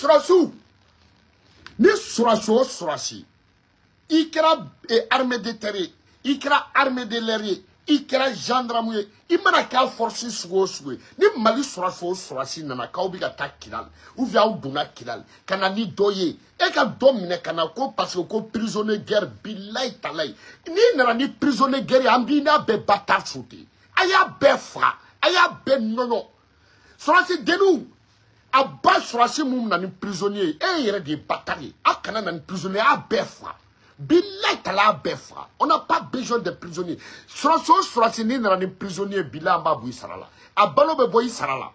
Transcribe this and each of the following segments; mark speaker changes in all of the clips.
Speaker 1: sɔrɔsiw ni sɔrɔsi o sɔrɔsi i kɛra eh, armée de terre ye i kɛra armée de l'air ye i kɛra gendarme ye i mana kɛ force sugu o sugu ye ni mali sɔrɔsi o sɔrɔsi nana k'aw bɛ ka taa kidali ou bien aw donna kidali ka na ni dɔ ye e ka dɔ minɛ ka na ko parce que ko prisonnier guerre bilayi talayi n'i nana ni prisonnier guerre ye an b'i n'a bɛɛ batari sote a y'a bɛɛ faga a y'a bɛɛ nɔnɔ surasi denw a ba surasi mun na ni prisonnier e yɛrɛ de ye batari ye a kana na ni prisonnier a bɛɛ faga bilayi tala a bɛɛ faga on n'a pas besoin de prisonnier surasi o surasi n'i nana ni prisonnier bilayi an b'a bɔ i sara la a balo bɛ bɔ i sara la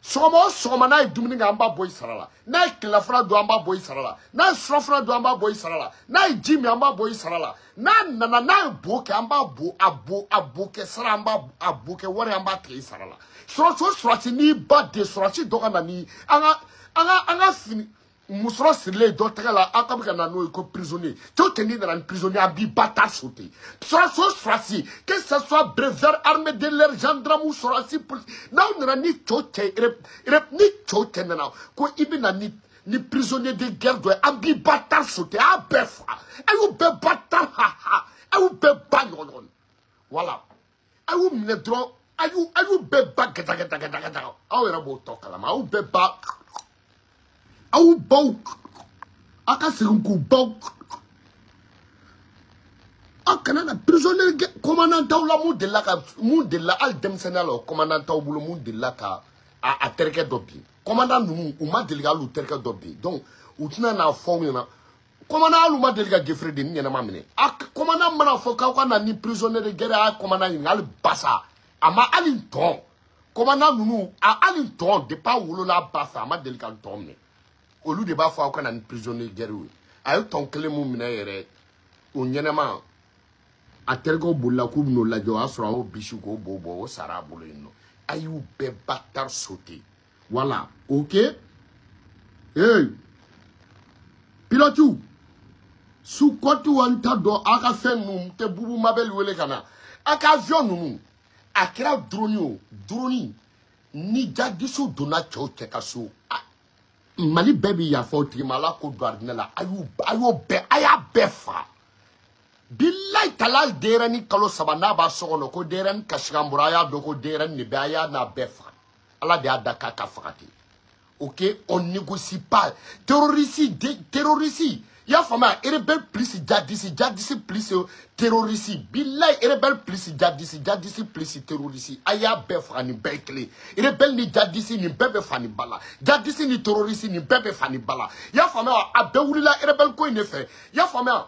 Speaker 1: sɔgɔma o sɔgɔma n'a ye dumuni kɛ an b'a bɔ i sara la n'a ye tilelafana dun an b'a bɔ i sara la n'a ye surafana dun an b'a bɔ i sara la n'a ye ji min an b'a bɔ i sara la n'a nana n'a ye bo kɛ an b'a bo a bo a bo kɛ sara an b'a a bo kɛ wari an b'a tigɛ i sara la sɔrɔsi o sɔrɔsi n'i ba de sɔrɔsi dɔ ka na ni an ka an ka an ka fini musɔrɔ sirilen dɔ tɛgɛ la aw ka bɛ ka na n'o ye ko prisonnier to tɛ n'i nana ni prisonnier an b'i batari sote sɔrɔsi o sɔrɔsi que ce soit béret vert armée de l'air gendarme sɔrɔsi polisi n'aw nana ni cɛ o cɛ ni cɛ o cɛ nana ko i bɛ na ni ni prisonnier de guerre dɔ ye an b'i batari sote a bɛɛ fa a y'u bɛɛ batari ha ha a y'u bɛɛ ba ɲɔgɔn ɲɔgɔn voilà a y'u minɛ dɔrɔn a y'u a y'u bɛɛ ba gɛdagɛdagɛdagɛdaga aw yɛrɛ b'o tɔ kalama a y'u bɛɛ ba aw baw aw ka segin k'u baw aw kana na prisonnier kɔmandan t'aw la mun delila ka mun delila hali denmisɛnninya la o kɔmandan t'aw bolo mun delila ka a a terikɛ dɔ bin kɔmandan ninnu u ma deli ka hali u terikɛ dɔ bin donc u tɛna n'a fɔ aw ɲɛna kɔmandan hali u ma deli ka gefere denin ɲɛnama minɛ a kɔmandan mana fɔ k'aw ka na ni prisonnier de guerre a ye kɔmandan ɲininka hali basa a ma hali ntɔn kɔmandan ninnu a hali ntɔn depuis a wolola a ba fɛ a ma deli ka ntɔn minɛ olu de b'a fɔ aw ka na ni prisonnier de guerre ye a ye ntɔn kelen min minɛ yɛrɛ o ɲɛnama a terikɛw bolila k'u bɛn'o lajɛ o y'a sɔrɔ a y'o bisi k'o bo bɔ o sara a bolo yen nɔ a y'u bɛɛ batari sote voilà ok ee pilɔtiw sukɔyi tigiw an t'a dɔn aw ka fɛn ninnu n tɛ bubu mabɛli wele ka na aw ka avion ninnu a kɛra duroni o duroni ni jadisiw donna cɛ o cɛ ka so mali bɛɛ bɛ yafa o tigi ma ala k'o don arijinɛ la a y'u bɛɛ a y'a bɛɛ fa bilayi tala denyɛrɛni kalo saba n'a b'a so kɔnɔ ko denyɛrɛni kasikan bɔra a y'a dɔn ko denyɛrɛni de bɛ a y'a n'a bɛɛ faga ala de y'a da k'a ka faga ten ok on négocie pas terrorisi terrorisi i y'a faamuya erebɛl plus jadisi jadisi plus terrorisi bilayi erebɛl plus jadisi jadisi plus terrorisi a y'a bɛɛ faga nin bɛɛ kelen erebɛl ni jadisi nin bɛɛ bɛ fa ni ba la jadisi ni terrorisi nin bɛɛ bɛ fa ni ba la i y'a faamuya a bɛɛ wulila erebɛl ko in de fɛ i y'a faamuya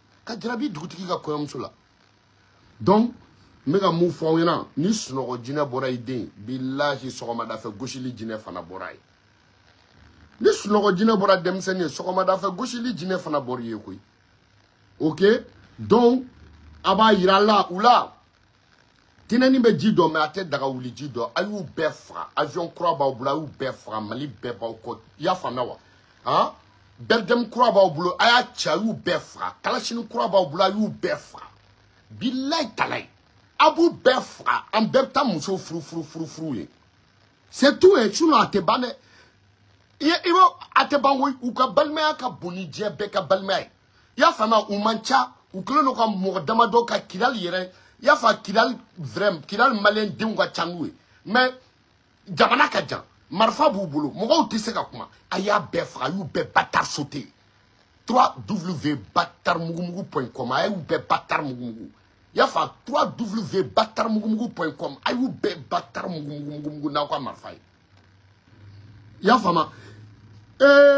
Speaker 1: ka jarabi dugutigi ka kɔɲɔmuso la donc n bɛ ka mun fɔ aw ɲɛna ni sunɔgɔ jinɛ bɔra i den bilahi sɔgɔmada fɛ gosili jinɛ fana bɔra ye ni sunɔgɔ jinɛ bɔra denmisɛnnin ye sɔgɔmada fɛ gosili jinɛ fana bɔra ye koyi ok donc a b'a yira la u la tinɛni bɛ ji dɔn mɛ a tɛ daga wuli ji dɔn a y'u bɛɛ faga avion kura b'aw bolo a y'u bɛɛ faga mali bɛɛ b'aw kɔ i y'a faamuya wa han bɛridɛmu kura b'aw bolo a y'a ci a y'u bɛɛ faga kalasini kura b'aw bolo a y'u bɛɛ faga bilayi talayi a b'u bɛɛ faga an bɛɛ bɛ taa muso furu furu furu furu ye c'est tout ye sinon a tɛ ban dɛ i b'a a tɛ ban koyi u ka balimaya ka bon ni diɲɛ bɛɛ ka balimaya ye i y'a faamuya u man ca u kɛlen don ka mɔgɔ damadɔ ka kidali yɛrɛ i y'a faamu kidali vraiment kidali maliyɛn denw ka ca n'u ye mɛ jamana ka jan marifa b'u bolo mɔgɔw tɛ se ka kuma a y'a bɛɛ faga a y'u bɛɛ batari sauter trois w batari mugumugu point com a y'u bɛɛ batari mugumugu i y'a faamu trois w batari mugumugu point com a y'u bɛɛ batari mugumugu n'aw ka marifa ye i y'a faamu ee